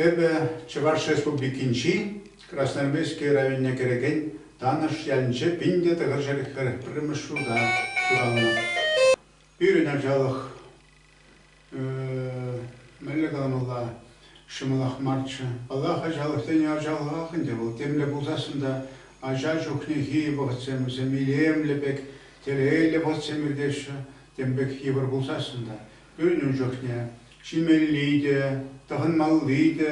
Эпӗ Чӑваш Республикинчи Красноармейски районне кӗрекен Танӑш ялӗнче пин те тӑхӑр ҫӗрӗх пӗр пӗрремӗш ҫурта ҫуралнӑ. Пирӗн ачалӑх Мӗнле каламалла, ҫӑмӑлах марччӗ. Паллах, ачалӑхсен ачалӑхах ӗнтӗ вӑл. Темле пулсассӑн та ача чухнехи вӑхӑтсем вӗсем илемлӗ пек, телейлӗ вӑхӑтсем иртеҫҫӗ. Тем пек йывӑр пулсассӑн та. Пирӗн ун чухне ҫимелли те, тӑхӑнмалли те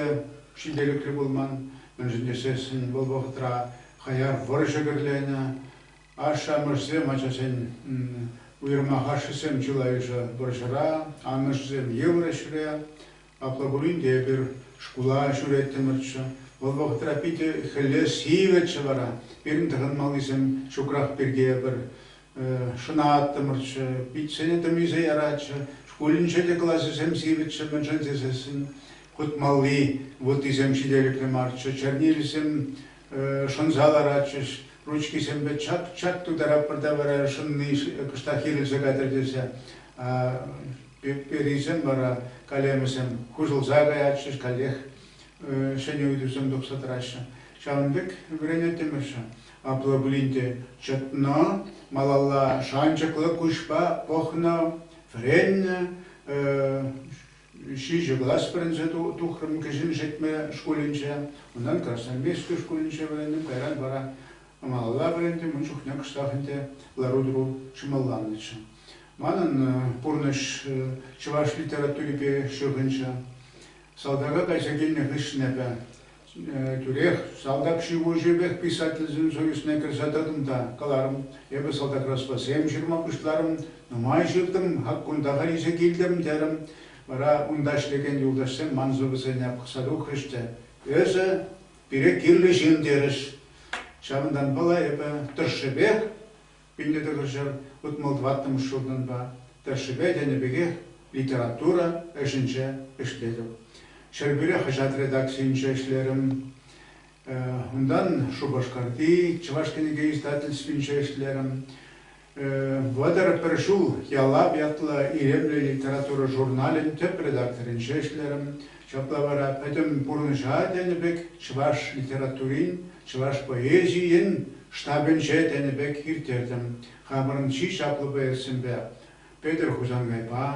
ҫителӗклӗ пулман. Мӗншӗн тесессӗн вӑл вӑхӑтра хаяр вӑрҫӑ кӗрленӗ. Ашшӗ-амӑшӗсем ачасен уйрӑмах ашшӗсем чылайӑшӗ вӑрҫӑра, амӑшӗсем йывӑр ӗҫре. Апла пулин те эпир шкула ҫӳреттӗмӗрччӗ. Вӑл вӑхӑтра питӗ хӗлле сивӗччӗ вара. Пирӗн тӑхӑнмаллисем ҫукрах пирки эпир шӑнаттӑмӑрччӗ, питсене тӑмисе яратчӗ. Шкулӗнче те класӗсем сивӗччӗ, мӗншӗн тесессӗн хутмалли вуттисем ҫителӗклӗ марччӗ, чернилисем шӑнса ларатчӗҫ, ручкисемпе чат-чат тутаратпӑр та вара шӑнни кӑштах ирӗлсе кайтӑр тесе перисем вара калемӗсем хуҫӑлса каятчӗҫ, каллех ҫӗнӗ ыйтусем тухса тӑраҫҫӗ. Ҫавӑн пек вӗренеттӗмӗрччӗ. Апла пулин те чӑтнӑ, малалла шанчӑклӑ куҫпа пӑхнӑ, вӗреннӗ, Ҫичӗ класс вӗренсе тухрӑм кӗҫӗн Шетмӗ шкулӗнче. Унтан Красноармейски шкулӗнче вӗрентӗм, кайран вара малалла вӗрентӗм. Ун чухне кӑштах ӗнтӗ лару-тӑру ҫӑмӑлланнӑччӗ. Манӑн пурнӑҫ чӑваш литературипе ҫыхӑнчӗ. Салтака кайса килнӗ хыҫҫӑн эпӗ Тӳрех салтак ҫыхӑҫӑвӗпех писательсен союзне кӗрсе тӑтӑм та каларӑм, эпӗ салтак-расфасем ҫырма пуҫларӑм, нумай ҫыртӑм, хаккунтаха илсе килтӗм, терӗм. Вара унта ӗҫлекен юлташсем ман сӑвӑсене пӑхса тухрӗҫ те, Эсӗ, пире кирлӗ ҫын, терӗҫ. Ҫавӑнтанпала эпӗ тӑршшӗпех Пиллӗ тӑтӑшӗ утмӑл-тӑваттӑмӗш ҫуртӑнпа, тӑршшӗпе тенӗ пекех, литература ӗҫӗнче ӗҫлетӗп. Ҫӗрпӳре хаҫат редакцийӗнче ӗҫлерӗм. Унтан Шупашкарти Чӑваш кӗнеке издательствинче ӗҫлерӗм. Вӑтӑр пӗр ҫул Ялав ятлӑ илемлӗ литература журналӗн тӗп редакторӗнче ӗҫлерӗм. Ҫапла вара пӗтӗм пурнӑҫа тенӗ пек чӑваш литературин, чӑваш поэзийӗн штабӗнче тенӗ пек ирттертӗм. Хамӑрӑн чи чаплӑ поэтсемпе, Петӗр Хусанкайпа,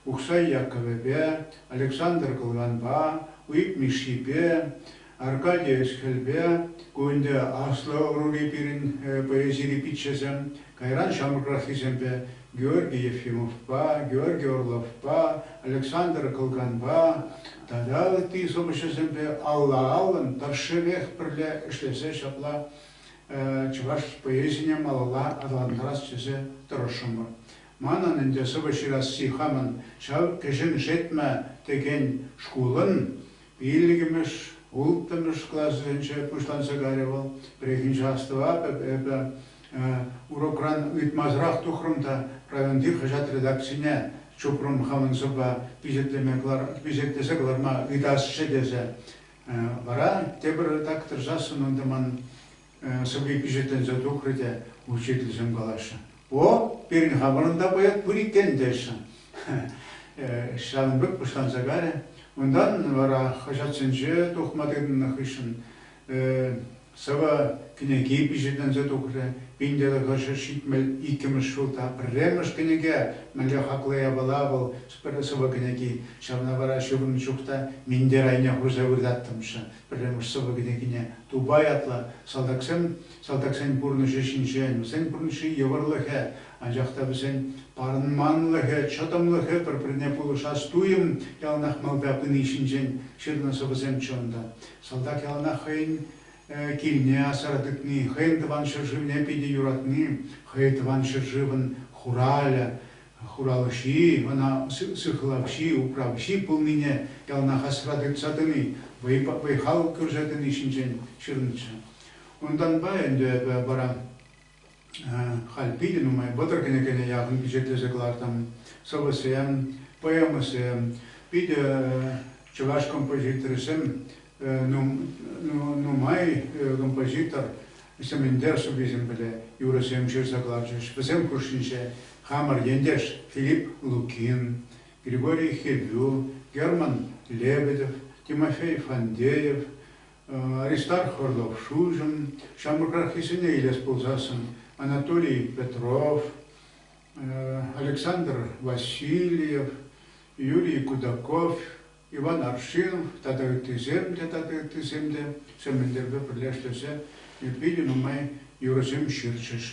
Ухсай Яккӑвӗпе, Александр Кылганпа, Уйӑп Мишшипе, Аркадий ӗҫ-хӗлпе ку ӗнтӗ аслӑ ӑрури пирӗн поэзири пиччесем, кайран ҫамрӑкраххисемпе Георгий Ефимовпа, Георгий Орловпа, Александр Кӑлканпа тата ытти сӑвӑҫӑсемпе алла-аллӑн тӑршшӗпех пӗрле ӗҫлесе ҫапла чӑваш поэзине малалла аталантарас тесе тӑрӑшрӑмӑр. Манӑн ӗнтӗ сӑвӑ ҫырасси хамӑн ҫав Кӗҫӗн Шетмӗ текен шкулӑн Пиллӗкмӗш, улттӑмӗш классенче пуҫланса кайрӗ вӑл. Пӗррехинче астӑватӑп эпӗ, урокран ыйтмасӑрах тухрӑм та районти хаҫат редакцине чупрӑм хамӑн сӑвва пичетлесе кӑларма ыйтасчӗ тесе. Вара тепӗр редактор сассӑн ӑнтӑ ман. сӑпи пичетленсе тухрӗ те учительсем калаҫҫӗ. О, пирӗн-ха вырӑнта поэт пур иккен теҫҫӗ. Ҫавӑн пек пуҫланса кайрӗ. Унтан вара хаҫатсенче тухма тытӑннӑ хыҫҫӑн сӑвӑ кӗнеки пичетленсе тухрӗ. Пин тӑлӑхӑшӗ ҫитмӗл иккӗмӗш ҫулта пӗрремӗш кӗнеке мӗнле хаклӑ япала вӑл сӑвӑ-кӗнеки. Ҫавна вара ҫывӑрнӑ чух та минтер айне хурса выртаттӑмччӗ. Пӗрремӗш сӑвӑ кӗнекине Тупай ятлӑ салтаксем салтаксен пурнӑҫӗ ҫинчен, вӗсен пурнӑҫри йывӑрлӑхӗ, анчах та вӗсен парӑнманлӑхӗ, чӑтӑмлӑхӗ пӗр-пӗрне пулӑшас туйӑм яланах малта пыни ҫинчен ҫырнӑ сӑвӑсем чӑн та салтак яланах хӑйӗн килне асра тытни, хӑйӗн тӑван ҫӗршывне питӗ юратни, хӑй тӑван ҫӗршывӑн хуралӗ, Хуралҫи ӑна сыхлавҫи, управҫи пулнине яланах асра тытса тӑни, вӑй-хал кӳрсе тӑни ҫинчен ҫырнӑччӗ. Унтанпа ӗнтӗ эпӗ вара халь питӗ нумай вӑтӑр кӗнекене яхӑн пичетлесе кӑлартам. Сӑвӑсем, поэмӑсем, питӗ чӑваш композиторӗсем нумай композитор Сементер суписемпеле юрӑсем ҫырса кӑларчӗҫ. Вӗсем хушшинче хамӑр ентеш Филипп Лукин, Григорий Хевю, Герман Лебедев, Тимофей Фандеев, Аристарх Орлов-Шульжӑн, ҫамрӑкраххисене илес пулсассӑн Анатолий Петров, Александр Васильев, Юрий Кудаков, Иван Аршин тата ыттисем те тата ыттисем те Сӗмӗлтерпе пӗрле ӗҫлесе питӗ нумай юрӑсем ҫырчӗҫ.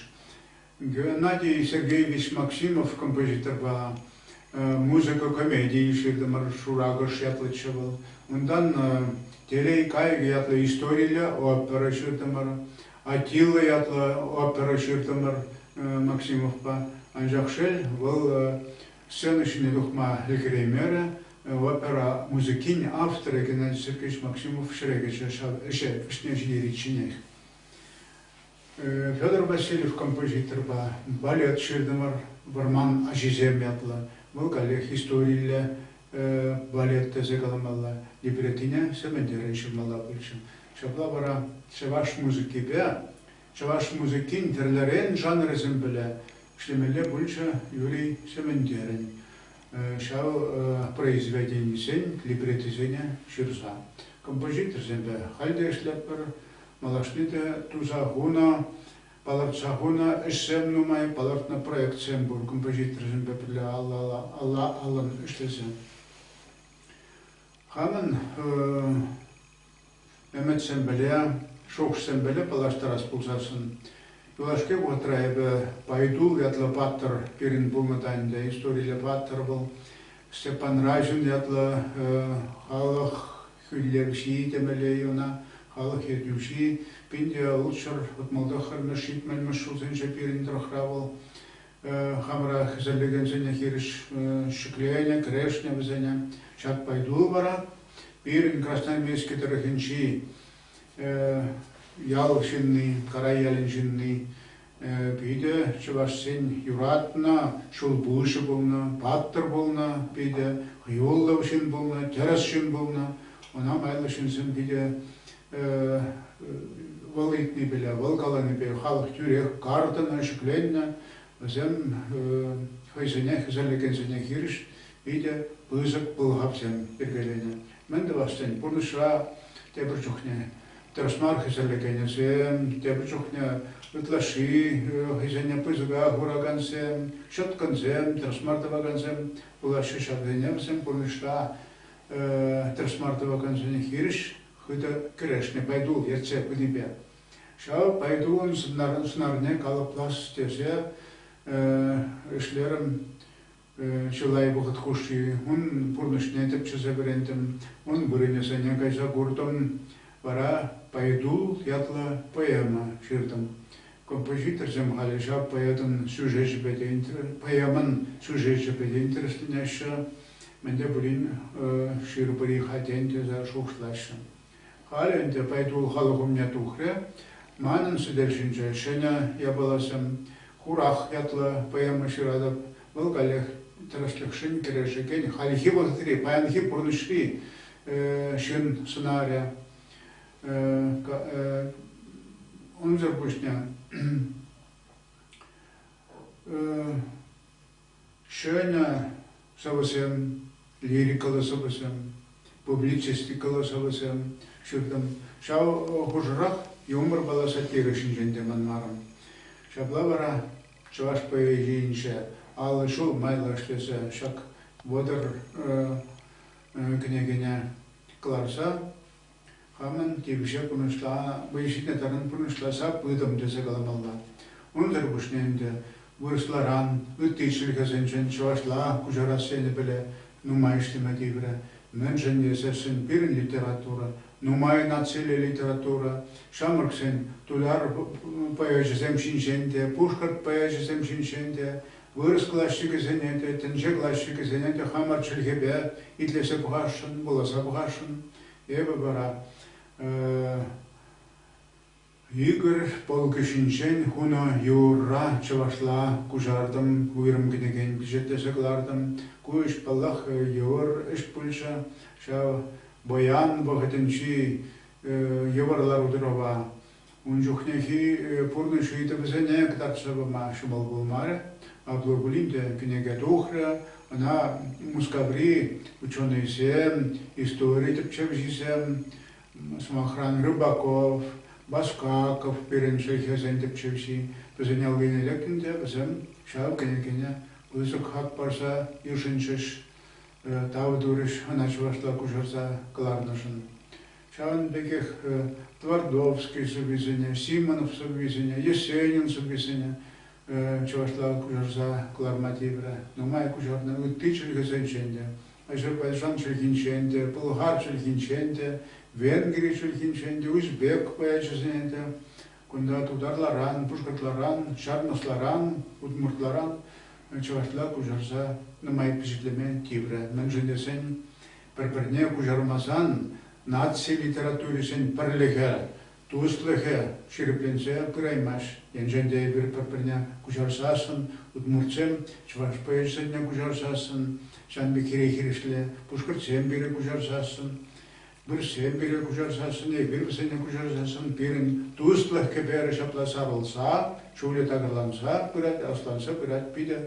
Геннадий Сергеевич Максимов композиторпа музыка комедийӗ ҫыртӑмӑр. Шуракӑш ятлӑччӗ вӑл. Унтан Телей кайӑкӗ ятлӑ историллӗ опера ҫыртӑмӑр. Аттила ятлӑ опера ҫыртӑмӑр Максимовпа. Анчах шел, вӑл сцена ҫине тухма ӗлкӗреймерӗ, Опера музыкин авторӗ Геннадий Сергеевич Максимов ҫӗре кӗчӗ ҫав ӗҫе вӗҫне ҫитеричченех. Федор Васильев композиторпа балет ҫыртӑмӑр Вӑрман аҫисем ятлӑ. Вӑл каллех историллӗ балет тесе каламалла, либретине Сӗментӗрен ҫырмалла пулчӗ. Ҫапла вара чӑваш музыкипе Чӑваш музыкин тӗрлӗрен жанрӗсем пӗле ӗҫлемелле пулчӗ Юрий Сементерӗн ҫав произведенисен либретисене ҫырса. Композиторсемпе халь те ӗҫлетпӗр, малашне те туса хунӑ, палӑртса хунӑ ӗҫсем нумай, палӑртнӑ проектсем пур композиторсемпе пӗрле алла-аллӑн ӗҫлесе. Хамӑн Ӗмӗт-сӗмпӗле, шухӑш-сӗмпӗле паллаштарас пулсассӑн, юлашки вӑхӑтра эпӗ Пайтул ятлӑ паттӑр пирӗн пулнӑ та ӗнтӗ. Историлле паттӑр вӑл. Степан Райшин ятлӑ халӑх хӳлевҫи темелле ӑна, халӑх ертӳҫи. Пин те ултҫӗр, утмӑлтӑххӑр мӗш, ҫитмӗл мӗш ҫулсенче пирӗн тӑрӑхра вӑл Хамӑра хӗсӗнлекенсене хирӗҫ ҫӗкленӗ, кӗрешнӗ вӗсене. Ҫак пайту вара пирӗн Красноармейски тӑрӑхӗнчи ял ҫынни, Карай ялӗн ҫынни, питӗ чӑвашсен юратнӑ ҫулпуҫӗ пулнӑ, паттӑр пулнӑ, питӗ хӑюллӑ ҫын пулнӑ, тӗрӗс ҫын пулнӑ. Ӑна майлӑ ҫынсем питӗ Вӑл ыйтни пире, вӑл каланипе халӑх тӳрех картӑнӑ, ҫӗкленнӗ. Вӗсем хӑйсене хӗсӗрлекенсене хирӗҫ питӗ пысӑк пӑлхавсем йӗркеленӗ. Мӗн тӑвас тен, пурнӑҫра тепӗр чухне тӗрӗс мар хӗсӗрлекенӗсем, тепӗр чухне ытлашши хӑйсене пысӑка хуракансем, ҫӑткӑнсем, тӗрӗс мар тӑвакансем пулаҫҫӗ. Ҫавсене вӗсем пурнӑҫра тӗрӗс мар тӑвакансене хирӗҫ хытӑ кӗрешнӗ пайтул ертсе пынипе. Ҫав пайтулӑн сӑнарне калӑплас тесе ӗҫлерӗм. Чылай вӑхӑт хушши ун пурнӑҫне тӗпчесе вӗрентӗм, ун вырӑнӗсене кайса куртӑм. Вара Пайтул ятлӑ поэма ҫыртӑм. Композиторсем халӗ ҫав поэтӑн сюжечӗпе те, поэмӑн сюжечӗпе те интересленеҫҫӗ. Мӗн те пулин ҫырупӑри-ха тен тесе шухӑшлаҫҫӗ. Халӗ ӗнтӗ Пайтул халӑх умне тухрӗ. Манӑн сӗтел ҫинче ҫӗнӗ япаласем, Хурах ятлӑ поэма ҫыратӑп. Вӑл каллех тӗрӗслӗхшӗн кӗрешекен хальхи вӑхӑтри, паянхи пурнӑҫри ҫын сӑнарӗ. Унсӑр пуҫне Ҫӗнӗ сӑвӑсем, лирикӑллӑ сӑвӑсем, публицистикӑллӑ сӑвӑсем ҫыртӑм. Ҫав хушӑрах юмор-палла сатирӗ ҫинчен те манмарӑм. Ҫапла вара чӑваш поэзийӗнче аллӑ ҫул майлӑ ӗҫлесе ҫак вӑтӑр кӗнекене кӑларса Хамӑн темиҫе пурнӑҫла вӑй ҫитнӗ таран пурнӑҫласа пытӑм тесе каламалла. Унсӑр пуҫне ӗнтӗ вырӑсларан, ытти чӗлхесенчен чӑвашла куҫарас енӗ пӗле нумай ӗҫлеме тиврӗ. Мӗншӗн тесессӗн пирӗн литература, нумай нациллӗ литература, ҫамрӑксен туяр поэчӗсем ҫинчен те, пушкӑрт поэчӗсем ҫинчен те, вырӑс классикӗсене те, тӗнче классикӗсене те хамӑр чӗлхепе итлесе пӑхасшӑн, вуласа пӑхасшӑн. Эпӗ вара Игорь полкӗҫӗнчен хунӑ юрра чӑвашла куҫартӑм, уйрӑм кӗнекен пичетлесе кӑлартӑм. Ку ӗҫ, паллах, йывӑр ӗҫ пулчӗ ҫав. Паян вӑхӑтӗнчи йывӑр лару-тӑрӑва Ун чухнехи пурнӑҫ ыйтӑвӗсене кӑтартса пама ҫӑмӑл пулмарӗ. Апла пулин те кӗнеке тухрӗ, ӑна Мускаври ученӑйсем, истори тӗпчевҫисем, сӑмахран, Рыбаков, Баскаков пирӗн чӗлхесен тӗпчевҫи, вӗсен аллине лекнӗ те вӗсем ҫав кӗнекене пысӑк хак парса йышӑнчӗҫ, тав турӗҫ ӑна чӑвашла куҫарса кӑларнӑшӑн. Ҫавӑн пекех Твардовский сӑввисене, Симонов сӑввисене, Есенин сӑввисене чӑвашла куҫарса кӑларма тиврӗ. Нумай куҫарнӑ ытти чӗлхесенчен те, Азербайджан чӗлхинчен те, пӑлхар чӗлхинчен те, Венгри чӗлхинчен те, узбек поэчӗсене те, кунта тутарларан, пушкӑртларан, ҫармӑсларан, удмуртларан чӑвашла куҫарса нумай пичетлеме тиврӗ. Мӗншӗн тесен Пӗр-пӗрне куҫармасан наци литературисен пӗрлӗхӗ, туслӑхӗ ҫирӗпленсе пыраймасть. Енчен те эпир пӗр-пӗрне куҫарсассӑн, удмуртсем чӑваш поэчӗсене куҫарсассӑн, ҫавӑн пек хире-хирӗҫле пушкӑртсем пире куҫарсассӑн, вырӑссем пире куҫарсассӑн, эпир вӗсене куҫарсассӑн пирӗн туслӑх кӗперӗ ҫапла сарӑлса, чулӗ такӑрланса пырать, асланса пырать, питӗ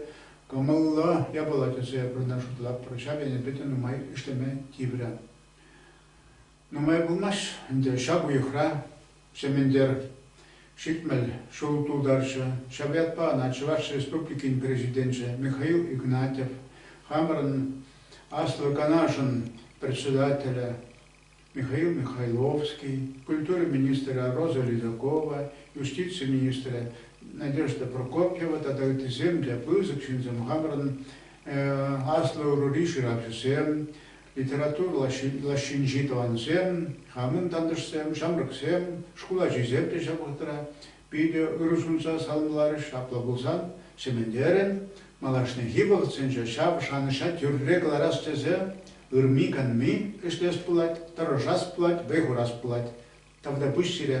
Кӑмӑллӑ япала тесе вырӑна шутлатпӑр, ҫав ӗне питӗ нумай ӗҫлеме тиврӗ. Нумай пулмасть ӗнтӗ ҫак уйӑхра Сементер ҫитмӗл ҫул тултарчӗ. Ҫав ятпа ӑна Чӑваш Республикин Президенчӗ Михаил Игнатьев, хамӑрӑн Аслӑ Канашӑн Председателӗ Михаил Михайловский, культура министрӗ Роза Ледокова, юстици министрӗ Надежда Прокопьева тата ыттисем те пысӑк ҫынсем, хамӑрӑн аслӑ ӑрури ҫыравҫӑсем, литература лаҫҫинчи тӑвансем, хамӑн тантӑшсем, ҫамрӑксем, шкул ачисем те ҫак вӑхӑтра Питӗ ырӑ сунса саламларӗҫ Апла пулсан, чӗмӗнтерӗн, малашнехи вӑхӑтсенче ҫав шанӑҫа тӳрре кӑларас тесе ырми-канми ӗҫлес пулать, тӑрӑшас пулать, вӑй хурас пулать. Тавтапуҫ сире!